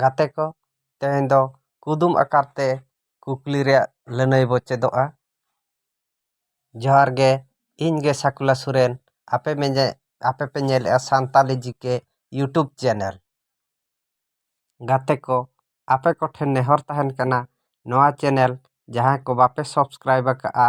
ᱜᱟᱛᱮ ᱠᱚ ᱛᱮᱦᱮᱧ ᱫᱚ ᱠᱩᱫᱩᱢ ᱟᱠᱟᱨ ᱛᱮ ᱠᱩᱠᱞᱤ ᱨᱮᱭᱟᱜ ᱞᱟᱹᱱᱟᱹᱭ ᱵᱚ ᱪᱮᱫᱚᱜᱼᱟ ᱡᱚᱦᱟᱨ ᱜᱮ ᱤᱧ ᱜᱮ ᱥᱟᱠᱩᱞᱟ ᱥᱚᱨᱮᱱ ᱟᱯᱮ ᱢᱮᱧᱮ ᱟᱯᱮ ᱯᱮ ᱧᱮᱞᱮᱜᱼᱟ ᱥᱟᱱᱛᱟᱞᱤ ᱡᱤᱠᱮ ᱤᱭᱩᱴᱩᱵᱽ ᱪᱮᱱᱮᱞ ᱜᱟᱛᱮ ᱠᱚ ᱟᱯᱮ ᱠᱚᱴᱷᱮᱱ ᱱᱮᱦᱚᱨ ᱛᱟᱦᱮᱱ ᱠᱟᱱᱟ ᱱᱚᱣᱟ ᱪᱮᱱᱮᱞ ᱡᱟᱦᱟᱸᱭ ᱠᱚ ᱵᱟᱯᱮ ᱥᱟᱵᱥᱠᱨᱟᱭᱤᱵᱽ ᱟᱠᱟᱜᱼᱟ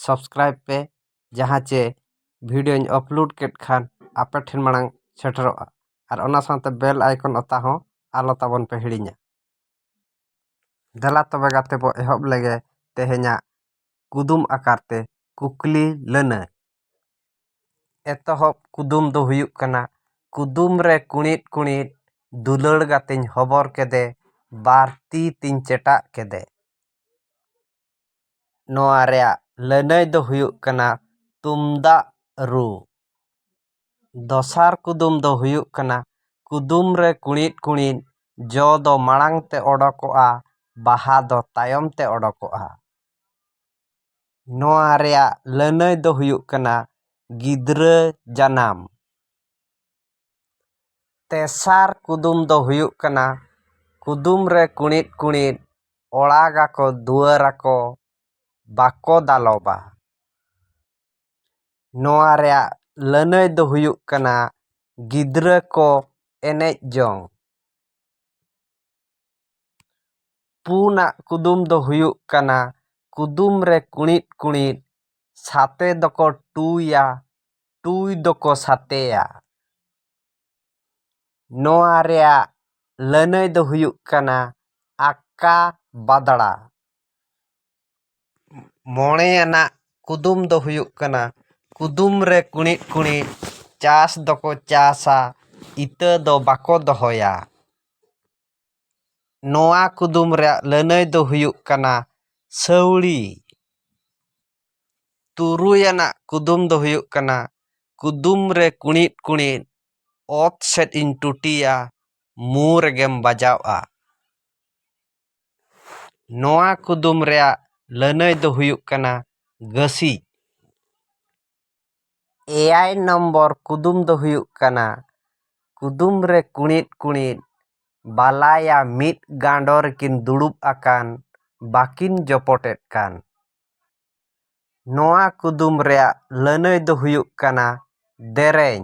ᱥᱟᱵᱥᱠᱨᱟᱭᱤᱵᱽ ᱯᱮ ᱡᱟᱦᱟᱸ ᱪᱮ ᱵᱷᱤᱰᱭᱳᱧ ᱟᱯᱞᱳᱰ ᱠᱮᱫ ᱠᱷᱟᱱ ᱟᱯᱮ ᱴᱷᱮᱱ ᱢᱟᱲᱟᱝ ᱥᱮᱴᱮᱨᱚᱜᱼᱟ ᱟᱨ ᱚᱱᱟ ᱥᱟᱶᱛᱮ ᱵᱮᱞ ᱟᱭᱠᱚᱱ ᱚᱛᱟ ᱦᱚᱸ ᱟᱞᱚ ᱛᱟᱵᱚᱱ ᱯᱮ ᱦᱤᱲᱤᱧᱟ ᱫᱮᱞᱟ ᱛᱚᱵᱮ ᱜᱟᱛᱮ ᱵᱚᱱ ᱮᱦᱚᱵ ᱞᱮᱜᱮ ᱛᱮᱦᱮᱧᱟᱜ ᱠᱩᱫᱩᱢ ᱟᱠᱟᱨ ᱛᱮ ᱠᱩᱠᱞᱤ ᱞᱟᱹᱱᱟᱹᱭ ᱮᱛᱚᱦᱚᱵ ᱠᱩᱫᱩᱢ ᱫᱚ ᱦᱩᱭᱩᱜ ᱠᱟᱱᱟ ᱠᱩᱫᱩᱢ ᱨᱮ ᱠᱩᱬᱤᱫ ᱠᱩᱬᱤᱫ ᱫᱩᱞᱟᱹᱲ ᱜᱟᱛᱮᱧ ᱦᱚᱵᱚᱨ ᱠᱮᱫᱮ ᱵᱟᱨ ᱛᱤ ᱛᱤᱧ ᱪᱮᱴᱟᱜ ᱠᱮᱫᱮ ᱱᱚᱣᱟ ᱨᱮᱭᱟᱜ ᱞᱟᱹᱱᱟᱹᱭ ᱫᱚ ᱦᱩᱭᱩᱜ ᱠᱟᱱᱟ ᱛᱩᱢᱫᱟᱜ ᱨᱩ᱾ ᱫᱚᱥᱟᱨ ᱠᱩᱫᱩᱢ ᱫᱚ ᱦᱩᱭᱩᱜ ᱠᱟᱱᱟ ᱠᱩᱫᱩᱢ ᱨᱮ ᱠᱩᱬᱤᱫ ᱠᱩᱬᱤᱫ ᱡᱚ ᱫᱚ ᱢᱟᱲᱟᱝ ᱛᱮ ᱚᱰᱚᱠᱚᱜᱼᱟ ᱵᱟᱦᱟ ᱫᱚ ᱛᱟᱭᱚᱢ ᱛᱮ ᱚᱰᱚᱠᱚᱜᱼᱟ᱾ ᱱᱚᱣᱟ ᱨᱮᱭᱟᱜ ᱞᱟᱹᱱᱟᱹᱭ ᱫᱚ ᱦᱩᱭᱩᱜ ᱠᱟᱱᱟ ᱜᱤᱫᱽᱨᱟᱹ ᱡᱟᱱᱟᱢ᱾ ᱛᱮᱥᱟᱨ ᱠᱩᱫᱩᱢ ᱫᱚ ᱦᱩᱭᱩᱜ ᱠᱟᱱᱟ ᱠᱩᱫᱩᱢ ᱨᱮ ᱠᱩᱬᱤᱫ ᱠᱩᱬᱤᱫ ᱚᱲᱟᱜ ᱟᱠᱚ ᱫᱩᱣᱟᱹᱨ ᱟᱠᱚ ᱵᱟᱠᱚ ᱫᱟᱞᱚᱵᱟ ᱱᱚᱣᱟ ᱨᱮᱭᱟᱜ ᱞᱟᱹᱱᱟᱹᱭ ᱫᱚ ᱦᱩᱭᱩᱜ ᱠᱟᱱᱟ ᱜᱤᱫᱽᱨᱟᱹ ᱠᱚ ᱮᱱᱮᱡ ᱡᱚᱝ ᱯᱩᱱᱟᱜ ᱠᱩᱫᱩᱢ ᱫᱚ ᱦᱩᱭᱩᱜ ᱠᱟᱱᱟ ᱠᱩᱫᱩᱢ ᱨᱮ ᱠᱩᱬᱤᱫ ᱠᱩᱬᱤᱫ ᱥᱟᱛᱮ ᱫᱚᱠᱚ ᱴᱩᱭᱟ ᱴᱩᱭ ᱫᱚᱠᱚ ᱥᱟᱛᱮᱭᱟ ᱱᱚᱣᱟ ᱨᱮᱭᱟᱜ ᱞᱟᱹᱱᱟᱹᱭ ᱫᱚ ᱦᱩᱭᱩᱜ ᱠᱟᱱᱟ ᱟᱠᱟ ᱵᱟᱫᱽᱲᱟ ᱢᱚᱬᱮ ᱟᱱᱟᱜ ᱠᱩᱫᱩᱢ ᱫᱚ ᱦᱩᱭᱩᱜ ᱠᱟᱱᱟ ᱠᱩᱫᱩᱢ ᱨᱮ ᱠᱩᱬᱤᱫ ᱠᱩᱬᱤᱫ ᱪᱟᱥ ᱫᱚᱠᱚ ᱪᱟᱥᱟ ᱤᱛᱟᱹ ᱫᱚ ᱵᱟᱠᱚ ᱫᱚᱦᱚᱭᱟ ᱱᱚᱣᱟ ᱠᱩᱫᱩᱢ ᱨᱮᱭᱟᱜ ᱞᱟᱹᱱᱟᱹᱭ ᱫᱚ ᱦᱩᱭᱩᱜ ᱠᱟᱱᱟ ᱥᱟᱹᱣᱲᱤ᱾ ᱛᱩᱨᱩᱭ ᱟᱱᱟᱜ ᱠᱩᱫᱩᱢ ᱫᱚ ᱦᱩᱭᱩᱜ ᱠᱟᱱᱟ ᱠᱩᱫᱩᱢ ᱨᱮ ᱠᱩᱬᱤᱫ ᱠᱩᱬᱤᱫ ᱚᱛ ᱥᱮᱫ ᱤᱧ ᱴᱩᱴᱤᱭᱟ ᱢᱩ ᱨᱮᱜᱮᱢ ᱵᱟᱡᱟᱣᱜᱼᱟ᱾ ᱱᱚᱣᱟ ᱠᱩᱫᱩᱢ ᱨᱮᱭᱟᱜ ᱞᱟᱹᱱᱟᱹᱭ ᱫᱚ ᱦᱩᱭᱩᱜ ᱠᱟᱱᱟ ᱜᱟᱹᱥᱤᱡ᱾ ᱮᱭᱟᱭ ᱱᱚᱢᱵᱚᱨ ᱠᱩᱫᱩᱢ ᱫᱚ ᱦᱩᱭᱩᱜ ᱠᱟᱱᱟ ᱠᱩᱫᱩᱢ ᱨᱮ ᱠᱩᱬᱤᱫ ᱠᱩᱬᱤᱫ ᱵᱟᱞᱟᱭᱟ ᱢᱤᱫ ᱜᱟᱸᱰᱚ ᱨᱮᱠᱤᱱ ᱫᱩᱲᱩᱵ ᱟᱠᱟᱱ ᱵᱟᱹᱠᱤᱱ ᱡᱚᱯᱚᱴᱮᱫ ᱠᱟᱱ ᱱᱚᱣᱟ ᱠᱩᱫᱩᱢ ᱨᱮᱭᱟᱜ ᱞᱟᱹᱱᱟᱹᱭ ᱫᱚ ᱦᱩᱭᱩᱜ ᱠᱟᱱᱟ ᱫᱮᱨᱮᱧ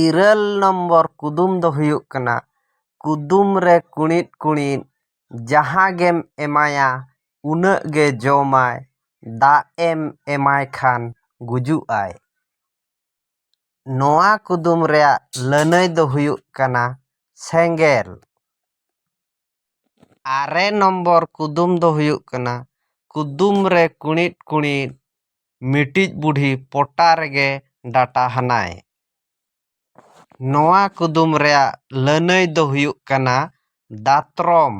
ᱤᱨᱟᱹᱞ ᱱᱚᱢᱵᱚᱨ ᱠᱩᱫᱩᱢ ᱫᱚ ᱦᱩᱭᱩᱜ ᱠᱟᱱᱟ ᱠᱩᱫᱩᱢ ᱨᱮ ᱠᱩᱬᱤᱫ ᱠᱩᱬᱤᱫ ᱡᱟᱦᱟᱸ ᱜᱮᱢ ᱮᱢᱟᱭᱟ ᱩᱱᱟᱹᱜ ᱜᱮ ᱡᱚᱢᱟᱭ ᱫᱟᱜ ᱮᱢ ᱮᱢᱟᱭ ᱠᱷᱟᱱ ᱜᱩᱡᱩᱜ ᱟᱭ ᱱᱚᱣᱟ ᱠᱩᱫᱩᱢ ᱨᱮᱭᱟᱜ ᱞᱟᱹᱱᱟᱹᱭ ᱫᱚ ᱦᱩᱭᱩᱜ ᱠᱟᱱᱟ ᱥᱮᱸᱜᱮᱞ ᱟᱨᱮ ᱱᱚᱢᱵᱚᱨ ᱠᱩᱫᱩᱢ ᱫᱚ ᱦᱩᱭᱩᱜ ᱠᱟᱱᱟ ᱠᱩᱫᱩᱢ ᱨᱮ ᱠᱩᱬᱤᱫ ᱠᱩᱬᱤᱫ ᱢᱤᱫᱴᱤᱡ ᱵᱩᱰᱷᱤ ᱯᱚᱴᱟ ᱨᱮᱜᱮ ᱰᱟᱴᱟ ᱦᱟᱱᱟᱭ ᱱᱚᱣᱟ ᱠᱩᱫᱩᱢ ᱨᱮᱭᱟᱜ ᱞᱟᱹᱱᱟᱹᱭ ᱫᱚ ᱦᱩᱭᱩᱜ ᱠᱟᱱᱟ ᱫᱟᱛᱨᱚᱢ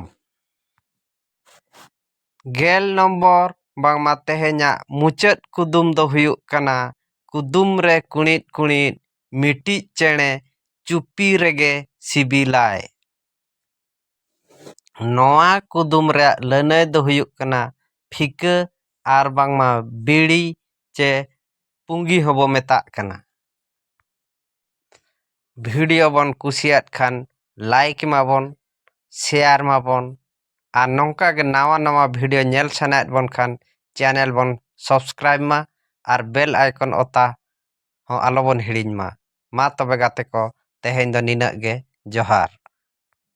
ᱜᱮᱞ ᱱᱚᱢᱵᱚᱨ ᱵᱟᱝᱢᱟ ᱛᱮᱦᱮᱧᱟᱜ ᱢᱩᱪᱟᱹᱫ ᱠᱩᱫᱩᱢ ᱫᱚ ᱦᱩᱭᱩᱜ ᱠᱟᱱᱟ ᱠᱩᱫᱩᱢ ᱨᱮ ᱠᱩᱬᱤᱫ ᱠᱩᱬᱤᱫ ᱢᱤᱫᱴᱤᱡ ᱪᱮᱬᱮ ᱪᱩᱯᱤ ᱨᱮᱜᱮ ᱥᱤᱵᱤᱞᱟᱭ ᱱᱚᱣᱟ ᱠᱩᱫᱩᱢ ᱨᱮᱭᱟᱜ ᱞᱟᱹᱱᱟᱹᱭ ᱫᱚ ᱦᱩᱭᱩᱜ ᱠᱟᱱᱟ ᱯᱷᱤᱠᱟᱹ ᱟᱨ ᱵᱟᱝᱢᱟ ᱵᱤᱲᱤ ᱪᱮ ᱯᱩᱸᱜᱤ ᱦᱚᱸ ᱵᱚ ᱢᱮᱛᱟᱜ ᱠᱟᱱᱟ᱾ ᱵᱷᱤᱰᱤᱭᱳ ᱵᱚᱱ ᱠᱩᱥᱤᱭᱟᱫ ᱠᱷᱟᱱ ᱞᱟᱭᱤᱠ ᱮᱢᱟᱵᱚᱱ, ᱥᱮᱭᱟᱨ ᱮᱢᱟᱵᱚᱱ ᱟᱨ ᱱᱚᱝᱠᱟ ᱜᱮ ᱱᱟᱣᱟ ᱱᱟᱣᱟ ᱵᱷᱤᱰᱤᱭᱳ ᱧᱮᱞ ᱥᱟᱱᱟᱭᱮᱫ ᱵᱚᱱ ᱠᱷᱟᱱ ᱪᱮᱱᱮᱞ ᱵᱚᱱ ᱥᱚᱵᱥᱠᱨᱟᱭᱤᱵᱽ ᱢᱟ ᱟᱨ ᱵᱮᱞ ᱟᱭᱠᱚᱱ ᱚᱛᱟ ᱦᱚᱸ ᱟᱞᱚ ᱵᱚᱱ ᱦᱤᱲᱤᱧ ᱢᱟ ᱢᱟ ᱛᱚᱵᱮ ᱜᱟᱛᱮ ᱠᱚ ᱛᱮᱦᱮᱧ ᱫᱚ ᱱᱤᱱᱟᱹᱜ ᱜᱮ ᱡᱚᱦᱟᱨ